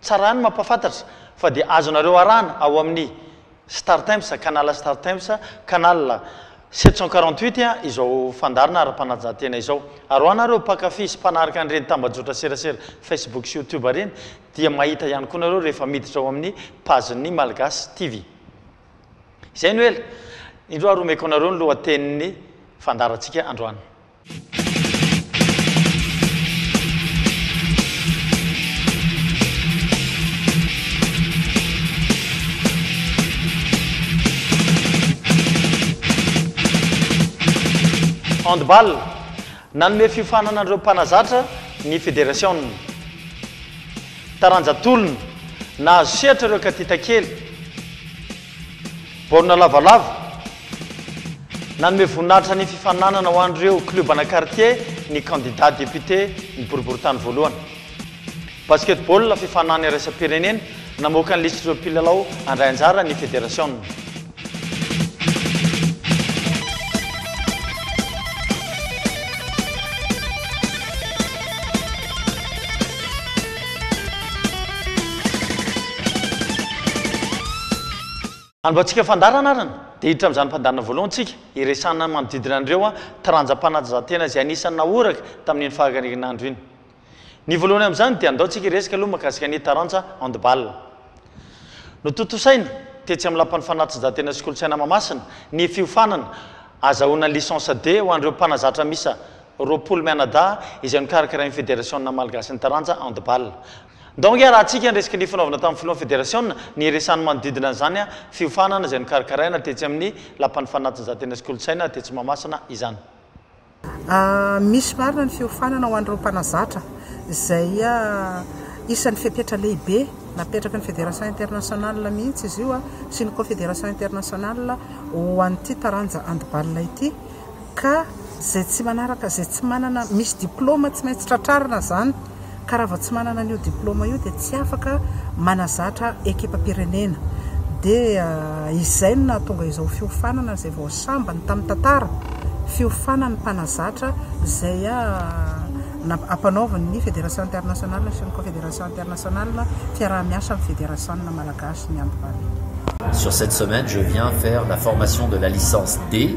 Tsara ny mampahafantatra fa dia azonareo arahana ao amin'ny Startimes, Canal Startimes, Canal sept cent quarante huit izao fandaharana ara-panajahan-tena izao. Ary ho anareo mpankafy sy mpanaraka an'ireny tambajotra serasera Facebook sy YouTube ireny dia mahita ihany koa nareo rehefa miditra ao amin'ny page ny Malgache TV. Izay no ela indro ary omeko anareo ny lohatenin'ny fandaharantsika androany. Handball, Nanome fiofanana an'ireo mpanazatra ny federasiona. Taranja tolona, Nahazo sehatra ireo katitakely. Baolina lavalava. Nanome voninahitra ny fifaninanana ho an'ireo club ana quartier ny kandida député ny boriboritany voalohany. Basketball, fifaninana iraisam-pirenena, namoaka ny lisitr'ireo mpilalao handray anjara ny federasiona. Hanovatsika fandaharana ary ny dia hiditra amin'izany fandaharana voalohany tsika hiresahana manodidina an'ireo taranjam-panatanjahantena izay anisan'ny nahoraka tamin'iny fahagarian'andro iny. Ny voalohany amin'izany dia andao tsika hiresaka aloha makasika ny taranja handball. Notontosaina tetsy amin'ny lapan'ny fanatanjahantena sy kolontsaina Mahamasina ny fiofanana azahoana licence D ho an'ireo mpanazatra misa roapolo mianadahy izay nokarakarain'ny Federasiona Malgasin'ny Taranja Handball. Ndao ange arahantsika ny resaky ny fanaovana tamin'ny filohan'ny Federasiona ny hiresahany manodidina an'izany fiofanana izay nokarakaraina tetsy amin'ny Lapan'ny Fanatanjahantena sy Kolontsaina tetsy Mahamasina izany. Misy marina ny fiofanana ho an'ireo mpanazatra izay isan'ny fepetra lehibe napetraky ny Federation Internationale mihitsy izy io sy ny Confederation Internationale ho an'ity taranja handball ity. Ka zay tsy manaraka zay tsy manana misy diploma tsy maintsy tratrarina zany ka raha vao tsy manana an'io diploma io dia tsy afaka manazatra ekipam-pirenena dia izay no nahatonga izao fiofanana zay vao sambany tamin'ny tantara fiofanan'ny mpanazatra zay ampanaovan'ny federation internationale sy ny confederation internationale fiaraha-miasa amin'ny federation malagasy miandry vahiny. Sur cette semaine je viens faire la formation de la licence D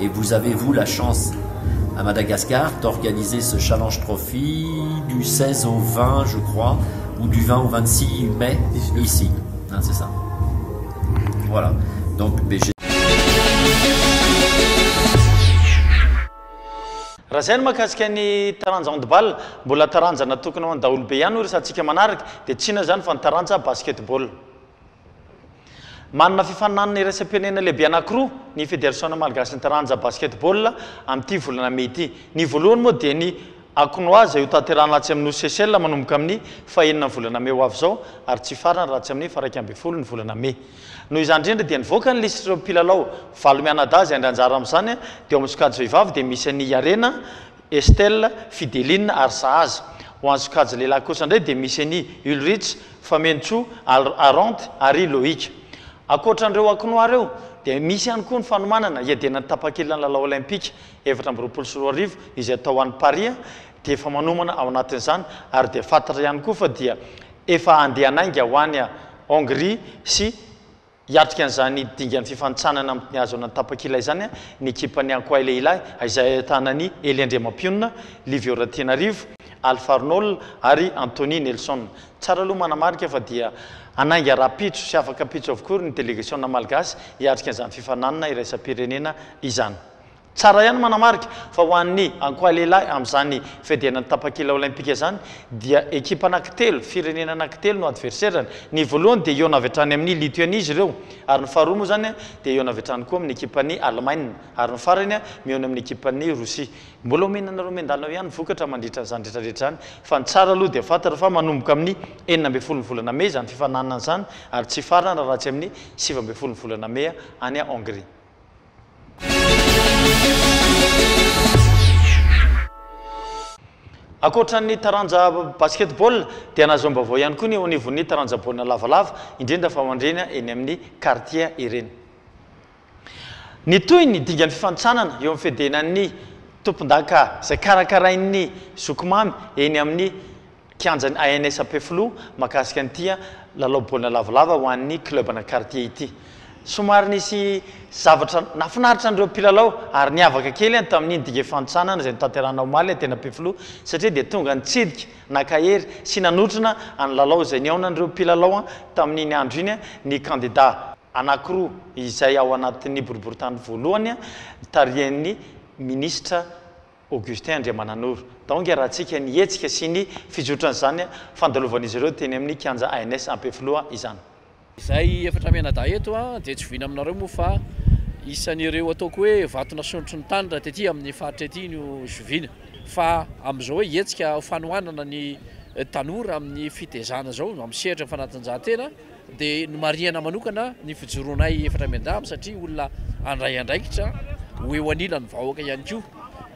Et vous avez vous la chance à Madagascar d'organiser ce challenge trophy du 16 au 20 je crois ou du 20 au 26 mai ici hein, c'est ça voilà donc BG Raha izay no mahakasika ny taranja handball, mbola taranja natokana ho an'ny daholobe ihany hoy ry satsika manaraka, dia tsy inona izany fa ny taranja basketball. Manana fifaninanana iraisam-pirenena lehibe anankiroa ny Federasiona malgasin'ny taranja basketball amin'ity volana mey ity. Ny voalohany moa dia ny Akonoa izay hotanterahana atsy amin'ny nosy Seychelles manomboka amin'ny fahenina volana mey ho avy izao ary tsy hifarana raha tsy amin'ny faraika ambin'ny folo ny volana mey. Noho izany indrindra dia nivoaka ny lisitr'ireo mpilalao valo mianadahy izay handray anjara amin'izany dia ao amin'ny sokajy vehivavy dia misy an'i Yarena Estelle, Fideline ary Sahaza. Ho an'ny sokajy lehilahy kosa indray dia misy an'i Ulrich, Famenitsoa, Al, Arendt ary Loïc. Ankoatra an'ireo ankinoà ireo dia misy ihany koa ny fanomanana hiadenan'ny tapakila ny lalao Olympika efatra amby roapolo sy roa arivo izay atao any Paris dia efa manomana ao anatin'izany ary dia fantatra ihany koa fa dia efa handeha hanainga ho any Hongrie sy Hiatrika an'izany dingan'ny fifanintsanana amin'ny Tony Hazo an'Antapakila izany ny ekipan'ny Ankoay lehilahy izay ahitana an'i Elie Andriamampionona, Livio Ratianarivo, Alpha Arnold ary Anthony Nelson. Tsara aloha manamarika fa dia hanainga rahampitso sy afaka mpitso avokoa ny delegasiona malgasy hiatrika izany fifaninanana iraisam-pirenena izany. Tsara ihany manamarika fa ho an'ny ankoahalehilahy amin'izany fiadianan'ny tapakila Olaimpika izany dia ekipa anankitelo, firenena anankitelo no adverserany. Ny voalohany dia hihaona avy hatrany amin'ny Lituania izy ireo ary ny faharoa moa izany dia hihaona avy hatrany koa amin'ny ekipan'i Alemaina ary ny farany mihaona amin'ny ekipan'i Rosia. Mbola omena anareo miandalana eo ihany ny vokatra mandritra an'izany rehetrarehetra izany fa ny tsara aloha dia fantatra fa manomboka amin'ny enina ambin'ny folon'ny volana mey izany fifaninanana izany ary tsy hifarana raha tsy amin'ny sivy ambin'ny folon'ny volana mey any Hongrie. Ankoatra ny taranja basketball dia nahazom-baovao ihany koa ny eo anivon'ny taranja baolina lavalava, indrindra fa mandrena eny amin'ny kartie ireny. Nitohy ny dingan'ny fifantsanana eo amin'ny fedenan'ny tompondaka izay karakarain'ny zoky mamy eny amin'ny kianjan'ny ANS Ampefiloha mahakasika an'ity lalao baolina lavalava ho an'ny club ana quartier ity. Somary nisy zavatra nahafinaritra an'ireo mpilalao ary niavaka kely tamin'iny digue fanontsanana izay notanterahina omaly teny Ampefiloha satria dia tonga nitsidika, naka hery sy nanotrona ny lalao izay nihaonan'ireo mpilalao tamin'iny andro iny ny kandida anankiroa izay ao anatin'ny boriborintany voalohany tarihan'ny minisitra Augustin Andriamananoro. Daonga raha antsika ny hetsika sy ny fizotran'izany fandalovan'izy ireo teny amin'ny kianja ANS Ampefiloha izany. Izay efatra mianadahy eto dia tsy voina aminareo moa fa isan'ireo ataoko hoe vato nasondrotry ny tany raha tety amin'ny faritra ety no zoviana. Fa amin'izao hoe hetsika fanohanana ny tanora amin'ny fitezana izao amin'ny sehatra fanatanjahantena, dia nomarihana manokana ny fijoroanay efatra miandamina satria olona handray andraikitra ho eo anilan'ny vahoaka ihany koa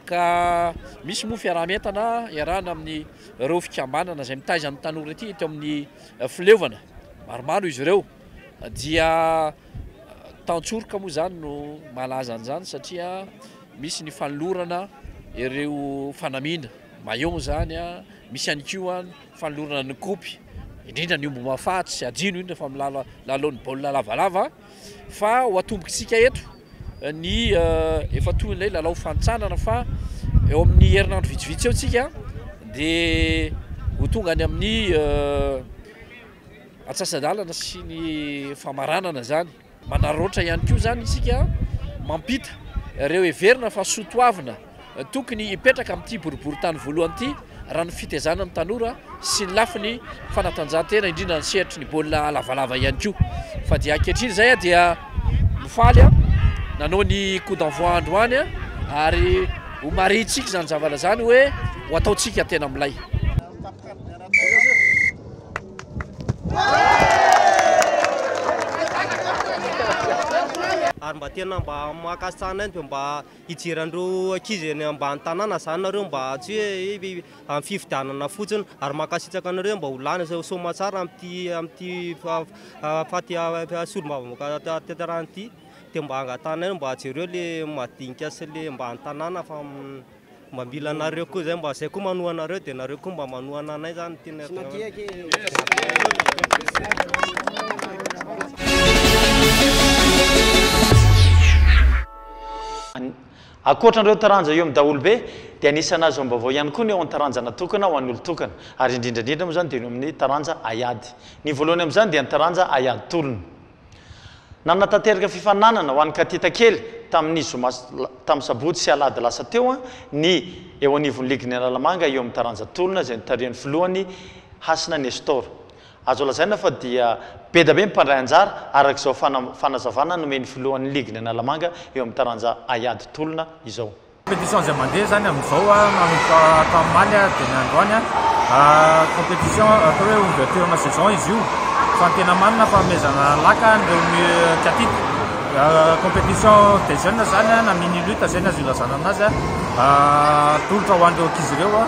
ka misy moa fiaraha-mientana iarahana amin'ny ireo fikambanana izay mitaiza ny tanora ity eto amin'ny fileovana maromaro izy ireo dia tantsoroka moa izany no malaza an'izany satria misy ny fanolorana ireo fanamiana maillon izany a misy ihany koa Fanolorana ny kopy, indrindra ny omby mahafaty sy hajino indrindra fa amin'ny lalaon'ny baolina lavalava fa ho atombontsika eto ny efa toy ilay lalao fantsanana fa eo amin'ny herinandro vitsivitsy eo tsika dia ho tonga any amin'ny atsasa-dalana sy ny famaranana izany. Manararaotra ihany koa izany isika mampita ireo heverina fa soa toavina tokony hipetraka amin'ity boriborintany voalohany ity raha ny fitaizana ny tanora sy ny lafiny fanatanjahantena indrindra ny sehatry ny baolina lavalava ihany koa fa dia ankehitriny izay dia mifaly a nanao ny coup d'envoi androany ary ho marintsika izany zavala izany hoe ho ataontsika tena milay ary mba tena mba mankasitraka anay dia mba hijery an'ireo ankizy eny ambany tanàna izany nareo mba tsy hoe amin'ny fifidianana fotsiny ary mankasitraka anareo mba ho lany soamantsara amin'ity amin'ity faha solombavambahoaka tanterahina ity dia mba angatahanay mba jereo ilay madinika sy ilay ambany tanàna fa Mba mila anareo koa zay mba zay koa manoa anareo de nareo koa mba manohana anay zany no tena Ankoatra an'ireo taranja eo amin'ny daholobe dia anisan'ny azo amim-baovao ihany koa ny eo an-taranja natokana ho an'ny olon-tokana ary indrindra indrindra moa izany dia ny eo amin'ny taranja haiady. Ny voalohany amin'izany dia ny taranja haiady tolona. Nanatanteraka fifaninanana ho an'ny katita kely tamin'ny zoma tamin'ny sabotsy sy alahady lasa teo ny eo anivon'ny ligin'ny Analamanga eo amin'ny taranja tolona izay notarihan'ny filohany Hasina Nestor. Azo lazaina fa dia bedabe ny mpandray anjara araka izao fanazavana nomen'ny filohan'ny ligin'ny Analamanga eo amin'ny taranja haiady tolona izao. Competition izay mandeha izany amin'izao manomboka tamin'ny omaly dia ny androany. Competition atao hoe ouverture na saison izy io fa ny tena marina fanomezana laka an'ireo mihetsika titre. Competition des jeunes izany na mini lutte izay no azo ilazana an'azy. Atolotra ho an'ireo ankizy ireo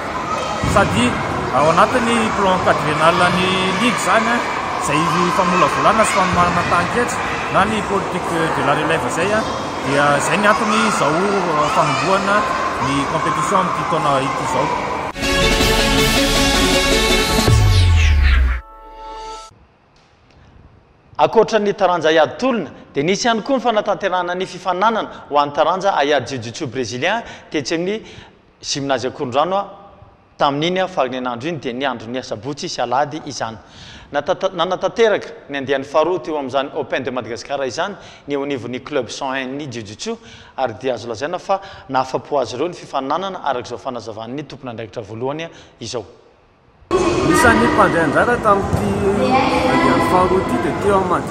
sady ao anatin'ny plan quadriennal ny ligue izany izay famolavolana sy fanomanana tahan-ketra na ny politique de la relève izay. Dia izay ny antony izao fanombohana ny compétition amin'ity taona ity izao. Ankoatra ny taranja haiady tolona dia nisy ihany koa ny fanatanterahana ny fifaninanana ho an'ny taranja haiady jiu-jitsu brésilien tetsy amin'ny Gymnase Ankorondrano, Tamin'iny faran'ny andro iny dia ny andron'ny asabotsy sy alahady izany. Natata, nanatanteraka ny andiany faharoa teo amin'izany Open de Madagascar izany ny eo anivon'ny Club cent un ny Jujutsu ary dia azo lazaina fa nahafapo azy ireo ny fifaninanana araka izao fanazavan'ny tompon'andraikitra voalohany izao. Isan'ny mpandray anjara tamin'ity andiany faharoa ity dia teo amin'ny.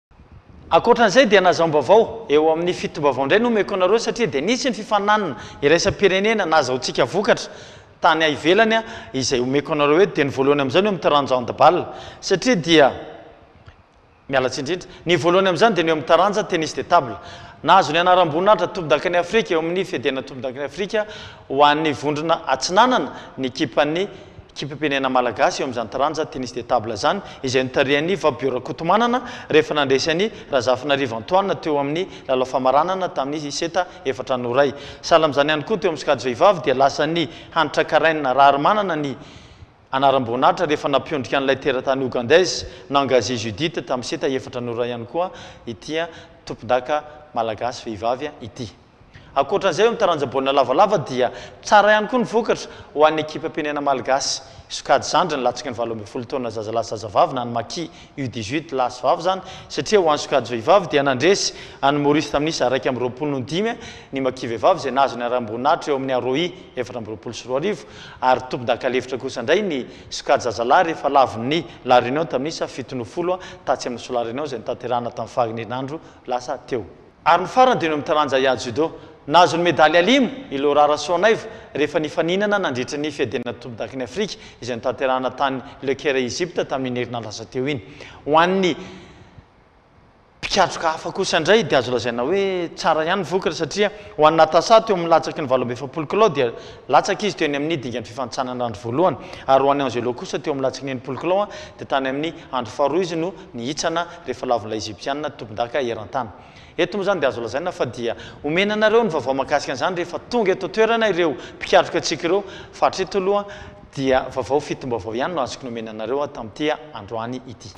Ankoatra an'izay dia nazaom-baovao, eo amin'ny fitombavao indray no omeko anareo satria dia nisy ny fifaninanana iraisam-pirenena nazahoantsika vokatra tany ivelany izay omeko anareo eto dia ny voalohany amin'izany eo amin'ny taranja handball satria dia miala tsiny indrindra ny voalohany amin'izany dia ny eo amin'ny taranja tennis de table nahazo ny anaram-boninahitra tompondakan'i Afrika eo amin'ny fedena tompondakan'i Afrika ho an'ny vondrona atsinanana ny ekipan'ny Ekipam-pirenena malagasy eo amin'izany taranja Tennis de table izany izay notarihan'i Fabio Rakotomanana rehefa nandresy an'i Razafinarivo Antoine teo amin'ny lalao famaranana tamin'ny seta efatra no iray. Sahala amin'izany ihany koa teo amin'ny sokajy vehivavy dia lasan'i Hanitra Karen Raharimanana ny anaram-boninahitra rehefa nampiondrika an'ilay teratany Ougandaise Nangazi Judith tamin'ny seta efatra no iray ihany koa ity tompondaka malagasy vehivavy ity. Ankoatra izay, eo amin'ny taranja baolina lavalava dia tsara ihany koa ny vokatra ho an'ny ekipam-pirenena malgasy. Sokajy zandry ny latsaka ny valo ambin'ny folo taona zazalahy sy zazavavy na ny Maki U dix huit lahy sy vavy izany satria ho an'ny sokajy vehivavy dia nandresy an'i Maorisy tamin'ny isa iraika amby roapolo noho dimy ny Maki vehivavy izay nahazo ny haram-boninahitra eo amin'ny Aroi efatra amby roapolo sy roa arivo ary tompon-dakalefitra kosa indray ny sokajy zazalahy rehefa lavon'ny La Réunion tamin'ny isa fito noho folo tatsy amin'ny Sola Réunion izay notanterahina tamin'ny faha-herinandro lasa teo. Ary ny farany dia ny eo amin'ny taranja Yah Judo. Nahazo ny medaly alimo i Laura Rasoanaivo rehefa nifaninana nandritra ny Fiadinana Tompodaky ny Afrika izay notanterahana tany Le Caire Egypte tamin'iny herinandro lasa teo iny. Ho an'ny mpikatroka hafa kosa indray dia azo lazaina hoe tsara ihany ny vokatra satria ho an'i Natasha teo amin'ny latsaky ny valo amby efapolo kilao dia latsaka izy teo ny amin'ny dingan'ny fifanintsanana andro voalohany ary ho an'i Angelo kosa teo amin'ny latsaky ny enimpolo kilao dia tany amin'ny andro faharoa izy no ny hitsana rehefa lavin'ilay Egyptiana tompondaka eran-tany. Eto moa izany dia azo lazaina fa dia omena anareo ny vaovao mahakasika an'izany rehefa tonga eto an-toerana ireo mpikatroka antsika ireo fa hatreto aloha dia vaovao fitom-baovao ihany no azoko nomena anareo tamin'ity androany ity.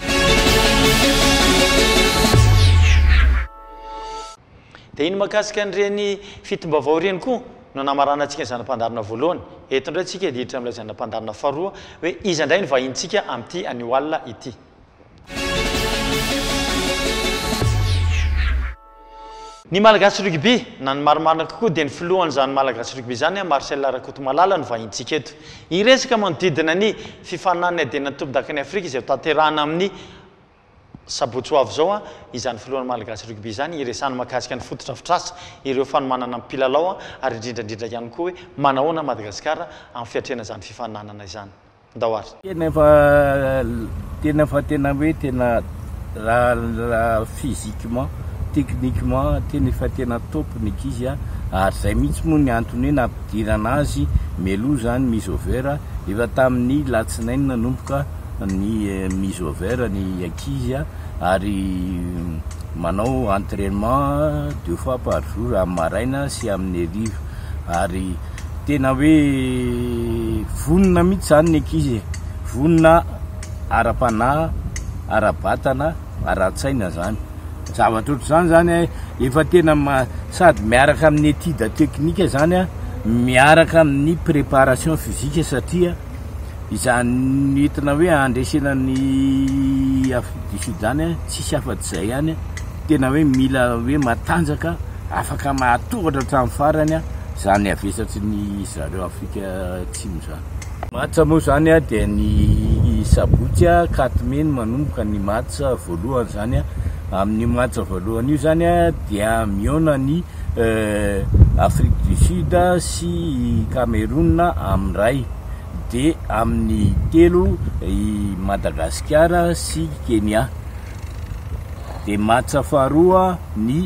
Dia iny mahakasika an'ireny fitom-baovao ireny koa no namaranantsika ny zana-pandaharana voalohany. Eto indray isika hiditra amin'ilay zana-pandaharana faharoa hoe iza indray ny vahintsika amin'ity anio alina ity. Ny Malagasy Rugby, na ny marimarina kokoa dia ny filohan'izany Malagasy Rugby izany, Marcel Rakotomalala no vahintsika eto. Hiresaka manodidina ny fifaninan'ny Adenan Tompondakan'i Afrika izay ho tanterahana amin'ny sabotsy ho avy izao izany filohan'ny Malagasy Rugby izany hiresahany mahakasika ny fotodrafitrasa, ireo fanomanana ny mpilalao ary indrindrandrindra ihany koa hoe manahoana Madagasikara amin'ny fiatrehana izany fifaninanana izany. ndao ary. Tena efa tena efa tena hoe tena raha physiquement, techniquement tena efa tena top ny ankizy a, ary zay mihitsy moa ny antony hoe nampidirana azy mialoha zany mise au vert, efa tamin'ny latsinainy nanomboka ny mise au vert ny ankizy a, ary manao entrainement deux fois par jour amin'ny maraina sy amin'ny hariva ary. Tena hoe vonona mihitsy izany ny ankizy e! Vonona ara-panahy, ara-batana, ara-tsaina izany. Zavatra ohatr'izany izany efa tena sady miaraka amin'ny étude technique izany, miaraka amin'ny préparation physique satria izany entina hoe handresena an'i Afrique du Sud izany tsisy afa-tsy izay ihany, tena hoe mila hoe matanjaka. Afaka mahatoratra hatramin'ny farany izany havesatry ny zareo Afrika Atsimo izany. Match moa izany dia ny sabotsy quatre mai no manomboka ny match voalohany izany. Amin'io match voalohany io izany dia mihaona ny Afrique du Sud sy i Cameroun amin'ny iray dia amin'ny telo i Madagasikara sy Kenya. dia matsa faharoa ny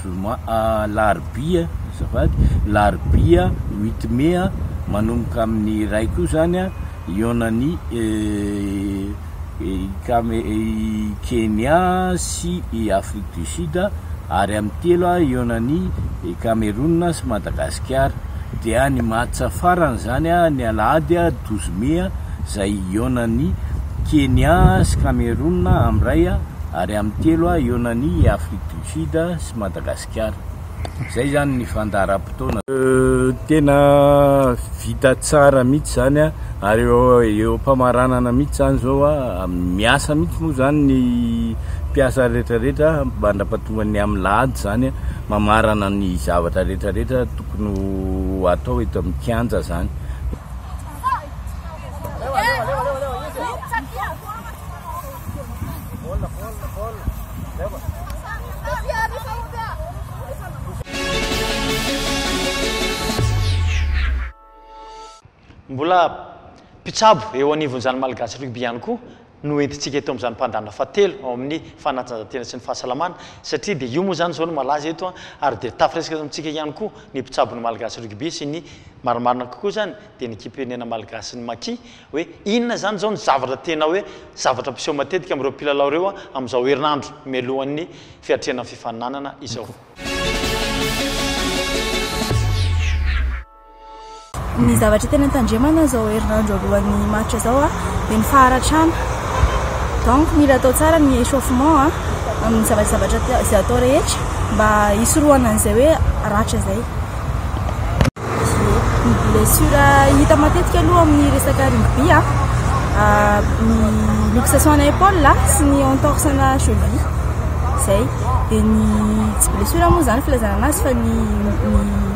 zoma alarobia azafady larobia huit mai manomboka amin'ny iray koa zany a hihaonan'ny ikame i Kenya sy i Afrique du Sud ary amin'ny telo hihaonan'ny Cameroun sy Madagasikara dia ny match farany zany ny alahady douze mai zay hihaonan'ny Kenya sy Cameroun am ray ary am telo hihaonan'ny Afrique du Sud sy Madagasikara. Zay zany ny fandaharam-potoana. Tena vita tsara mihitsy zany ary eo am-pamaranana mihitsy zany zao, miasa mihitsy moa zany ny mpiasa retraretra mandra-pahatongan'ny am lahady zany mamarana ny zavatra retraretra. Tokony ho atao eto amin'ny kianja izany. Mbola mpitsabo eo anivon'izany Malagasy Rugby ihany koa no entintsika eto amin'izany mpandàna fahatelo ao amin'ny fanatanjahantena sy ny fahasalamana satria dia io moa izany izao no malaza eto ary dia tafiresaka eto amintsika ihany koa ny mpitsabon'ny Malagasy Rugby sy ny marimarina kokoa izany dia ny ekipirnena Malagasy ny Maki hoe inona izany izao no zavatra tena hoe zavatra mpiseho matetika amin'ireo mpilalao ireo amin'izao herinandro mialohan'ny fiatrehana ny fifaninanana izao. Ny zavatra tena tandremana izao herinandro alohan'ny match izao dia ny faharatrana. Donc mila atao tsara ny échauffement amin'ny zavajavatra izay atao rehetra mba hisorohana an'izay hoe ratra izay. Ny blessure hita matetika aloha amin'ny resaka rugby ny luxation ana épaule sy ny entorse ana cheville. Izay. Dia ny tsy blessure moa izany filazana anazy fa ny ny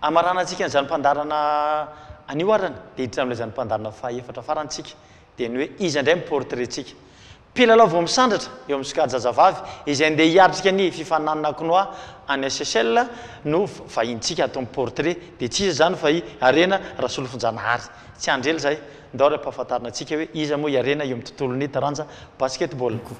Hamaranantsika an'izany fandaharana anio arany dia hiditra amin'ilay izany fandaharana fahaefatra farany isika, dia ny hoe iza indray no portrait-ntsika. Mpilalao vao misandratra eo amin'ny sokajazavavy izay andeha hiatrika ny fifaninanana Kinoa any Seychelles no vahinintsika ato amin'ny portrait, dia tsy iza izany fa i Harena Rasolofonjanahary. Tsy handry ela izahay, ndao ary ampahafantarina antsika hoe iza moa i Harena eo amin'ny tontolon'ny taranja basketball.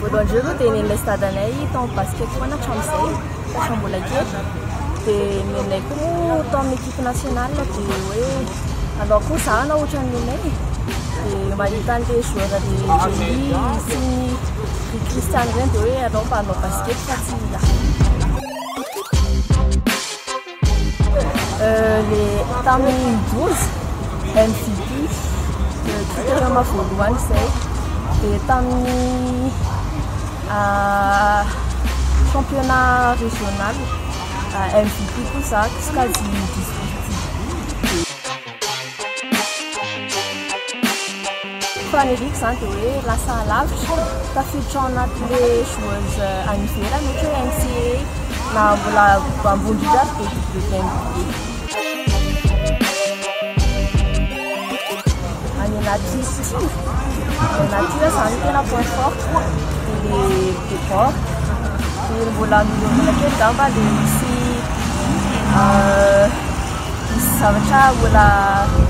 Voalohany indrindra aloha dia nenay sy dadanay tao basket foana hatramin'izay fatra mbola kely. Dia nenay koa moa tao amin'ny équipe nationale dia hoe anao koa izaho na ohatran'ny nenay e. Dia mahita an'ilay joueur an'i Jenny sy ny ry Christiane ireny dia hoe anao mba hanao basket fa tsy izaho. le tamin'ny Bozy MTV Twitter voalohany izay dia tamin'ny championnat régional MTV koa izaho sokajy district. Faniriako izany dia hoe lasa alavitra, tafiditra ao anatin'ilay joueuse any ivelany ohatra hoe NCAA na mbola ambony indrindra aza dia WNBA. Any anaty style, any anaty style izany tena point fort ilay debord dia mbola mihomehy kely angamba ilay misy Misy zavatra mbola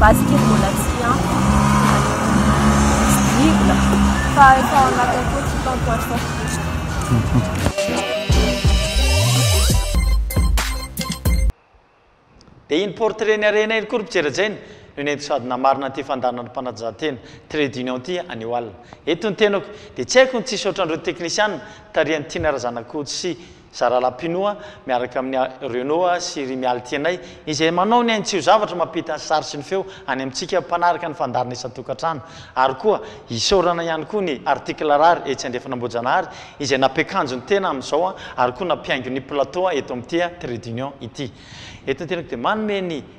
base kely mbola tsy ampy diso-drivona fa efa ao anatiny koa tsy tant poids tant couche. Dia iny portrait ny harena iny koa ry mpijery hajaina no nentiko sady namarina an'ity fandaharan'ny mpanajantena trait d'union ity anio alina. Eto ny tenako dia tsy haiko ny tsy hisaotra an'ireo teknisiana tarihan'i Tiana Razanakoto sy Zara Lapinoa miaraka amin'i A. Renaud sy i Rimialy Tianay, izay manao ny ainy tsy ho zavatra mampita ny sary sy ny feo any amintsika mpanaraka ny fandaharana isan-tokantrano, ary koa isaorana ihany koa ny Article Rare etsy andrefana Ambohijanahary izay nampiakanjo ny tena amin'izao ary koa nampihaingo ny plateau eto amin'ity Trait d'Union ity. Eto an-tenako dia manome ny.